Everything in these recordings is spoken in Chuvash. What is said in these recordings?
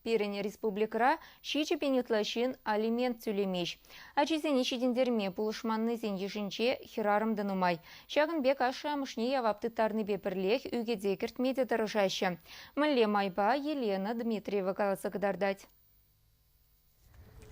Пирӗн республикӑра ҫичӗ пин ытла ҫын алимент тӳлемест. Ачисене ҫитӗнтерме пулӑшманнисен йышӗнче хӗрарӑм та нумай. Ҫакӑн пек ашшӗ-амӑшне явап тыттарнипе пӗрлех ӳкӗте кӗртме те тӑрӑшаҫҫӗ. Мӗнле майпа Елена Дмитриева каласа кӑтартать.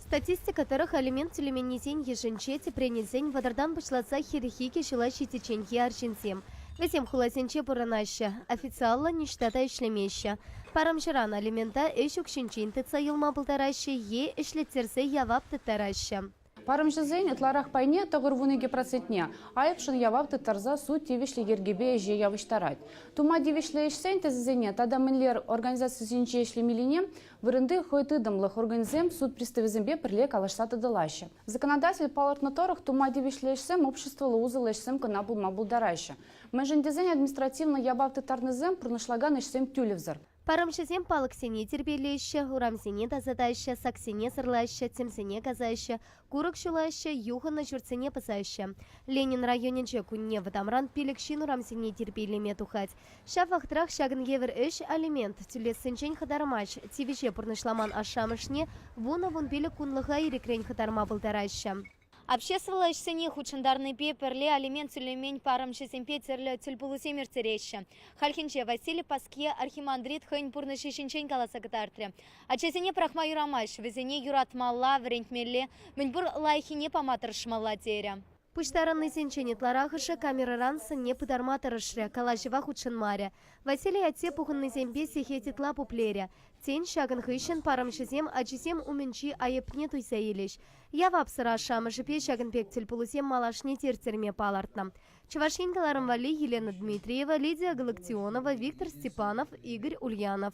Статистика тӑрӑх алимент тӳлеменнисен йышӗнче тӗпрен илсен вӑтӑртан пуҫласа хирӗҫ икӗ ҫула ҫитичченхи арҫынсем. Вӗсем хуласенче пурӑнаҫҫӗ, официаллӑ ниҫта та ӗҫлемеҫҫӗ. Парӑмҫӑран алимента ӗҫ укҫинчен тытса юлма пултараҫҫӗ е ӗҫлеттерсе явап тыттараҫҫӗ. Парӑмҫӑсен ытларах пайне тӑкӑр вун икӗ процентне айӑпшӑн явап тыттарса суд тивӗҫлӗ йӗркепе ӗҫе явӑҫтарать. Тума тивӗҫлӗ ӗҫсен тӗсӗсене тата мӗнлер организацисенче ӗҫлемеллине Вырӑнти хӑй тытӑмлӑх органӗсем суд приставӗсемпе пӗрле калаҫса тӑтӑлаҫҫӗ. Законодатель палӑртнӑ тӑрӑх, тума тивӗҫлӗ ӗҫсем обществӑлла усӑллӑ ӗҫсем кӑна пулма пултараҫҫӗ, мӗншӗн тесен административлӑ явап тыттарнисем пурнӑҫлакан ӗҫсем тӳлевсӗр. Парӑмҫӑсем палӑксене тирпейлеҫҫӗ, урамсене тасатаҫҫӗ, саксене сӑрлаҫҫӗ, тӗмсене касаҫҫӗ, Курӑк ҫулаҫҫӗ, юхӑннӑ ҫуртсене пӑсаҫҫӗ. Ленин районӗнче кунне вӑтамран пилӗк ҫын урамсене тирпейлеме тухать. Ҫав вӑхӑтрах ҫакӑн евӗр ӗҫ алимент тӳлессинчен хӑтармасть, тивӗҫе пурнӑҫламан ашшӗ-амӑшне вунӑ-вун пилӗк кунлӑха ирӗкрен хӑтарма пултараҫҫӗ. Обществӑлла ӗҫсене хутшӑнтарнипе пӗрле алимент тӳлемен парӑмҫӑсемпе тӗрлӗ тӗлпулусем ирттереҫҫӗ. Хальхинче Василий Паскье архимандрит хӑйӗн пурнӑҫӗ ҫинчен каласа кӑтартрӗ. Ачасене пӑрахма юрамасть, вӗсене юратмалла, вӗрентмелле, мӗнпур лайӑххине пама тӑрӑшмалла, терӗ. Пуҫтарӑннисенчен ытларахӑшӗ камерӑран сӑнне пытарма тӑрӑшрӗ, калаҫӑва хутшӑнмарӗ. Василий атте пухӑннисемпе сехет ытла пуплерӗ. Тен, ҫакӑн хыҫҫӑн парӑмҫӑсем ачисем умӗнчи айӑпне туйса илӗҫ. Явапсӑр ашшӗ-амӑшӗпе ҫакӑн пек тӗлпулусем малашне терттерме палӑртнӑ. Чӑваш Ен кӑларӑм валли Елена Дмитриева, Лидия Галактионова, Виктор Степанов, Игорь Ульянов.